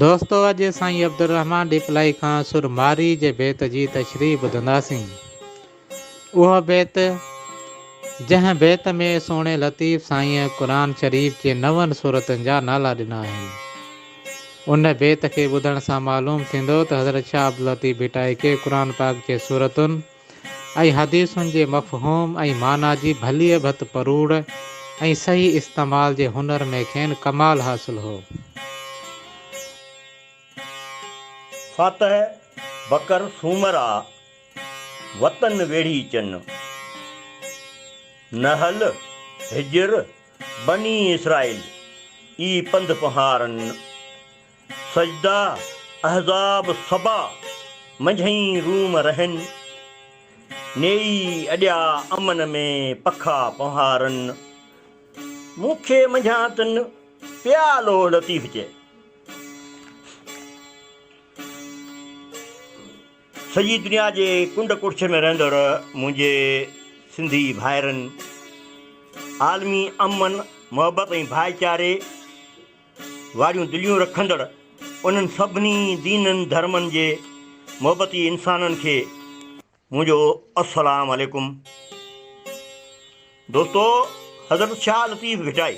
دوستو اڄ سائين عبدالرحمان ڏيپلائي کان سر مارئي جي بيت جي تشريح ٻڌنداسين. اهو بيت جنهن بيت ۾ سهڻي لطيف سائينء قرآن شريف جي نون سورتن جا نالا ڏنا آهن. ان بيت کي ٻڌڻ سان معلوم ٿيندو ته حضرت شاهه عبداللطيف ڀٽائي کي قرآن پاڪ جي سورتن ۽ حديثن جي مفهوم ۽ معنيٰ جي ڀليء ڀت پروڙ ۽ صحيح استعمال جي هنر ۾ کين ڪمال حاصل هو. فاتح بکر سومر آ، وطن ويڙهي چن. نحل، حجر، بني اسرائيل، اي پنڌ پنهارن. سجده احزاب سبا منجهئين روم رهن. نيئي اڏيا امن ۾ پکا پنهارن. مون کي منجهان تن پيا لوهه لطيف چئي. سڄي دنيا جي ڪنڊ ڪڙڇ ۾ رهندڙ منهنجي سنڌي ڀائرن. عالمي امن، محبت ۽ ڀائيچاري. واريون دليون رکندڙ انهن سڀني دينن ڌرمن جي محبتي انسانن کي منهنجو السلام عليڪم دوستو حضرت شاهه لطيف ڀٽائي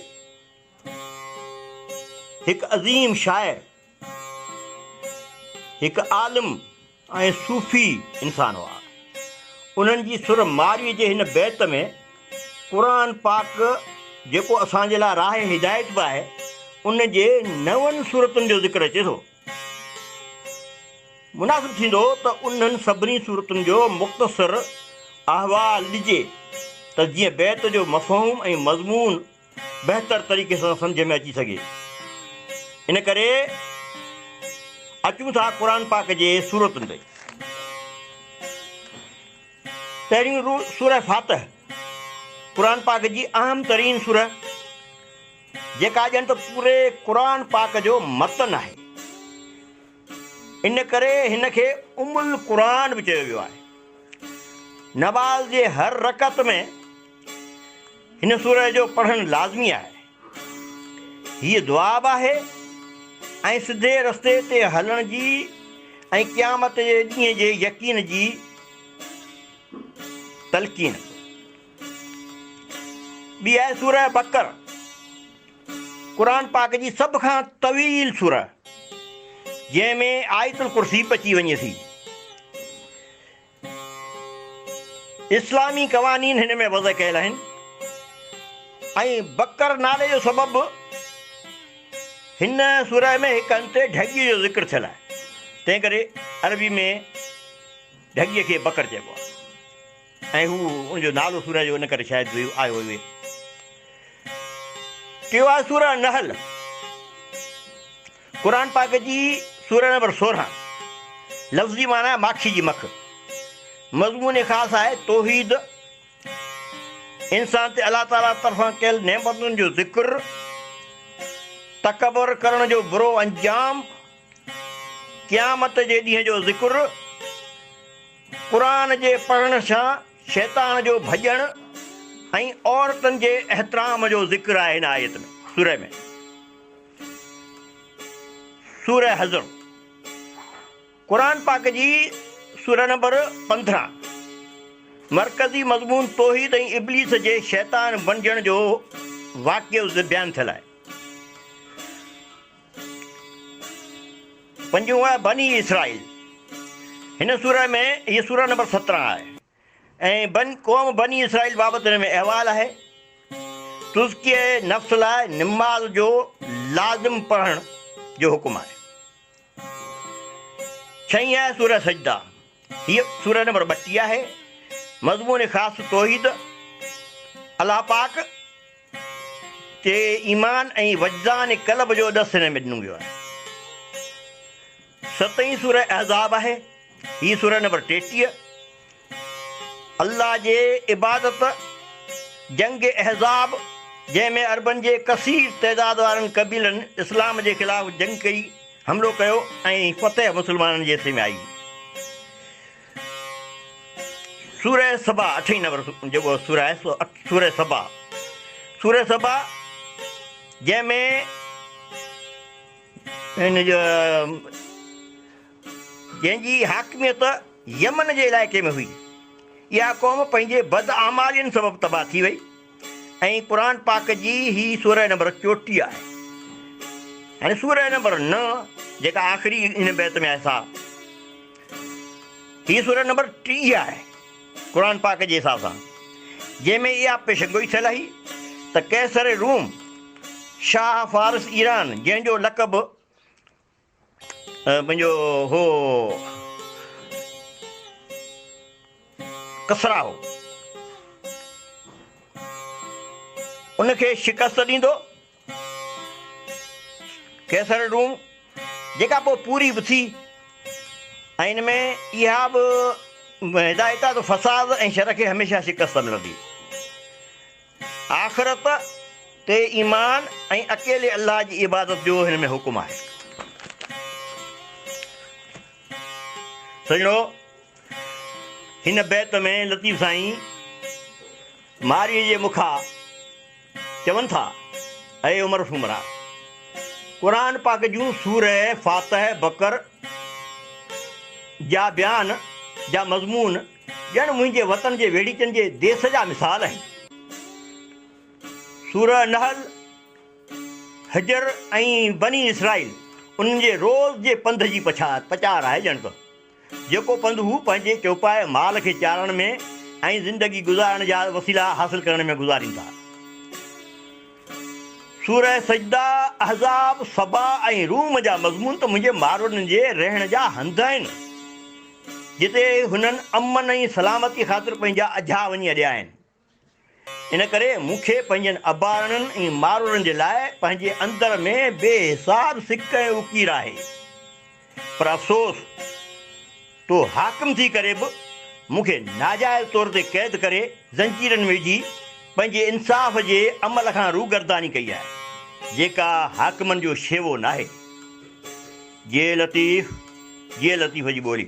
هڪ عظيم شاعر هڪ عالم ۽ صوفي انسان هئا. انهن جي سر مارئي جي هن بيت ۾ قرآن پاڪ جيڪو اسان جي لاء راهه هدايت به آهي ان جي نون سورتن جو ذڪر اچي ٿو. مناسب ٿيندو ته انهن سڀني سورتن جو مختصر احوال ڏجي ته جيئن بيت جو مفهوم ۽ مضمون بهتر طريقي سان سمجهه ۾ اچي سگهي. ان ڪري اچون ٿا قرآن پاڪ جي سورتن تي. پهريون سوره فاتح قرآن پاڪ جي اهم ترين سوره جيڪا ڄڻ ته پوري قرآن پاڪ جو متن آهي. ان ڪري هن کي ام القرآن به چيو ويو آهي. نماز جي هر رڪعت ۾ هن سورة جو پڙهڻ لازمي آهي. هيء دعا به آهي ۽ سڌي رستي تي هلڻ جي ۽ قيامت جي ڏينهن جي يقين جي تلقين. ٻي آهي سوره بقره قرآن پاڪ جي سڀ کان طويل سوره جنهن ۾ آيت الڪرسي به اچي وڃي ٿي اسلامي قوانين هن ۾ وضع ڪيل آهن ۽ بقر نالي جو سبب هن سوره ۾ هڪ هنڌ ڍڳي جو ذڪر ٿيل آهي تنهن ڪري عربي ۾ ڍڳي کي بقر چئبو آهي ۽ هو ان جو نالو سورهه جو ان ڪري شايد ويو آيو ويو. ٽيو آهي سورة النحل قرآن پاڪ جي سورة نمبر سورهن لفظي معنيٰ آهي ماکي جي مک مضمون خاص آهي توحيد انسان تي الله تعالي طرفان ڪيل نعمتن جو ذڪر تڪبر ڪرڻ جو برو انجام قيامت جي ڏينهن جو ذڪر قرآن جي پڙهڻ سان شيطان جو ڀڄڻ ۽ عورتن جي احترام جو ذڪر آهي هن آيت ۾ سورة ۾ سورة حضر قرآن پاڪ جي سورة نمبر پندرهن مرڪزي مضمون توحيد ۽ ابليس جي شيطان بنجڻ جو واقعو بيان ٿيل آهي پنجون آهي بني اسرائيل. هن سوره ۾ هيء سوره نمبر سترهن آهي ۽ بن قوم بني اسرائيل بابت هن ۾ احوال آهي. تزڪيه نفس لاء نماز جو لازم پڙهڻ جو حڪم آهي. ڇهين آهي سوره سجده هيء سورة نمبر ٻٽيهه آهي. مضمون خاص توحيد، الله پاڪ تي ايمان ۽ وجدان قلب جو ڏس هن ۾ ڏنو ويو آهي. ستين سورة احزاب آهي. هيء سورة نمبر ٽيٽيهه الله جي عبادت جنگ احزاب جنهن ۾ عربن جي ڪثير تعداد وارن قبيلن اسلام جي خلاف جنگ ڪئي، حملو ڪيو ۽ فتح مسلمانن جي حصي ۾ آئي. سوره سبا اٺين نمبر جيڪو سوره آهي سو سوره سبا سوره سبا جنهن ۾ ان جو جنهن جي حاڪميت يمن جي علائقي ۾ هئي اها قوم پنهنجي بد اعمالين سبب تباهه ٿي وئي ۽ قرآن پاڪ جي هي سورة نمبر چوٽيهه آهي. يعني سورة نمبر نه جيڪا آخري هن بيت ۾ آهي سا هي سورة نمبر ٽيهه آهي قرآن پاڪ جي حساب سان جنهن ۾ اها پيشنگوئي ٿيل آهي ته قيصر روم شاهه فارس ايران جنهن جو لقب منهنجو هو ڪسرا هو ان کي شڪست ڏيندو قيصر روم جيڪا پوء پوري به ٿي ۽ ان ۾ اها به هدايت آهي ته فساد ۽ شر کي هميشه شڪست ملندي آخرت تي ايمان ۽ اڪيلي الله جي عبادت جو هن ۾ حڪم آهي. سڄڻو! هن بيت ۾ لطيف سائين مارئي جي مکا چون ٿا، اي عمر سومرا! قرآن پاڪ جون سوره فاتح، بقر جا بيان جا مضمون ڄڻ منهنجي وطن جي ويڙهيچن جي ديس جا مثال آهن. سوره النحل، حجر ۽ بني اسرائيل انهن جي روز جي پنڌ جي پڇات، پچار، آهي ڄڻ ته جيڪو پنڌ هو پنهنجي چوپائي مال کي چارڻ ۾ ۽ زندگي گذارڻ جا وسيلا حاصل ڪرڻ ۾ گذارين ٿا. سوره سجده، احزاب، سبا ۽ روم جا مضمون ته منهنجي ماروئڙن جي رهڻ جا هنڌ آهن. جتي هنن امن ۽ سلامتي خاطر پنهنجا اجها وڃي اڏيا آهن. ان ڪري مون کي پنهنجن ابارڻن ۽ مارورن جي لاء پنهنجي اندر ۾ بي حساب سڪ ۽ اڪير آهي. پر افسوس! تو حاڪم ٿي ڪري به مون کي ناجائز طور تي قيد ڪري زنجيرن ۾ وجهي پنهنجي انصاف جي عمل کان روگرداني ڪئي آهي، جيڪا حاڪمن جو شيوو ناهي. جي لطيف جي لطيف جي ٻولي.